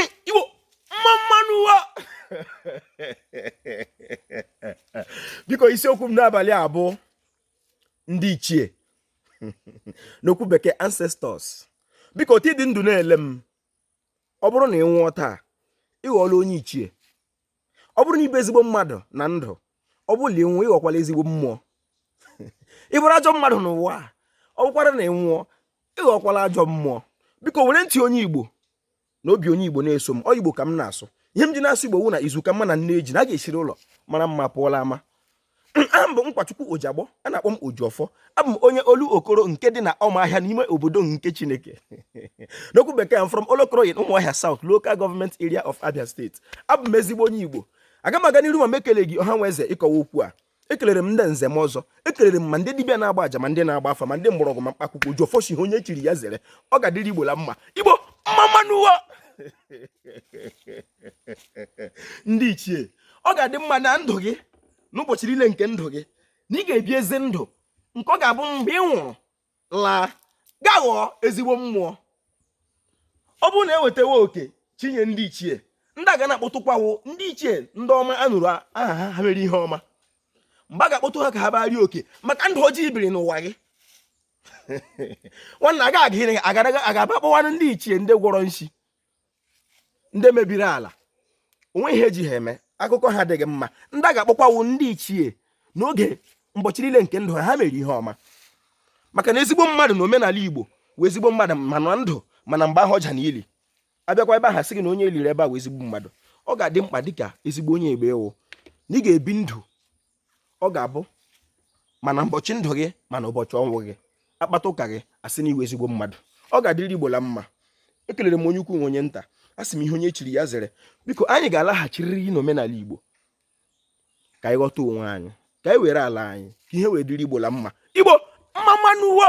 Igbo mma mma nụ wo biko isiokwu m n'abalị a bụ ndị ichie n'okwu bekee ancestors biko otu ị dị ndụ na-ele m ọ bụrụ na ị nwụọ taa ị ghọọla onye ichie ọ bụrụ na ị bụ ezigbo mmadụ na ndụ ọ bụrụ na ị nwụọ ị ghọkwala ezigbo mmụọ ị bụrụ ajọ mmadụ n'ụwa a ọ bụkwara na ị nwụọ ị ghọkwala ajọ mmụọ biko were ntị onye igbo na obi onye igbo na-eso m ọ igbo ka m na-asụ ihe m ji na-asụ igbo wụ na izu ka mma na nneji na a ga-esiri ụlọ mara mma pụọ la ama aha m bụ Nkwachukwu Ojiagbọ a na-akpọ m Ojiọfọ abụ m onye Olokoro nke dị na Ọmahịa n'ime obodo nke Chineke n'okwu bekee I'm from Olokoro in Ụmụahịa South Local Government Area of Abia State abụ m ezigbo onye Igbo aga m aga n'iru ma m ekeleghị ọha na eze ịkọwa okwu a ekelere m ndị nze na ọzọ ekelere m ma ndị dibịa na-agba aja ma ndị na-agba afa ma ndị mgbọrọgwụ ma mkpa akwụkwọ Ojiọfọ sị ihe onye chiri ya zere ọ ga-adịrị igbo la mma igbo mma mma nụ ndị ichie ọ ga-adị mma na ndụ gị n'ụbọchị niile nke ndụ gị na ị ga-ebi ezi ndụ nke ọ ga-abụ mgbe ị nwụrụ laa gaa ghọọ ezigbo mmụọ ọ bụrụ na e wetawa oke chinye ndị ichie ndị a ga na-akpọtụkwa wụ ndị ichie ndị ọma a nụrụ aha ha ha mere ihe ọma mgbe a ga-akpọtụ ha ka ha bịa rie oke maka ndụ ọjọọ i biri n'ụwa gị nwanna agaghị aba kpọwanụ ndị ichie ndị gwọrọ nshi ndị mebiri ala o nwee ihe e ji ha eme akụkọ ha adịghị mma ndị a ga-akpọkwa wụ ndị ichie n'oge ụbọchị niile nke ndụ ha ha mere ihe ọma maka na ezigbo mmadụ na omenala igbo wụ ezigbo mmadụ ma na ndụ ma na mgbe ahụ ọja na ili a bịakwa ebe ahụ a sị gị na onye e liri ebe a wụ ezigbo mmadụ ọ ga-adị mkpa dịka ezigbo onye igbo ị wụ na ị ga-ebi ndụ ọ ga-abụ ma na ụbọchị ndụ gị ma na ụbọchị ọnwụ gị a kpata ụka gị a sị na ị wụ ezigbo mmadụ ọ ga-adịrị igbo la mma ekelere m onye ukwu na onye nta asị m ihe onye chiri ya zere biko anyị ga-alaghachirịrị n'omenala igbo ka anyị ghọta onwe anyị ka anyị were ala anyị ka ihe wee dịrị igbo la mma igbo mma mma nụ wo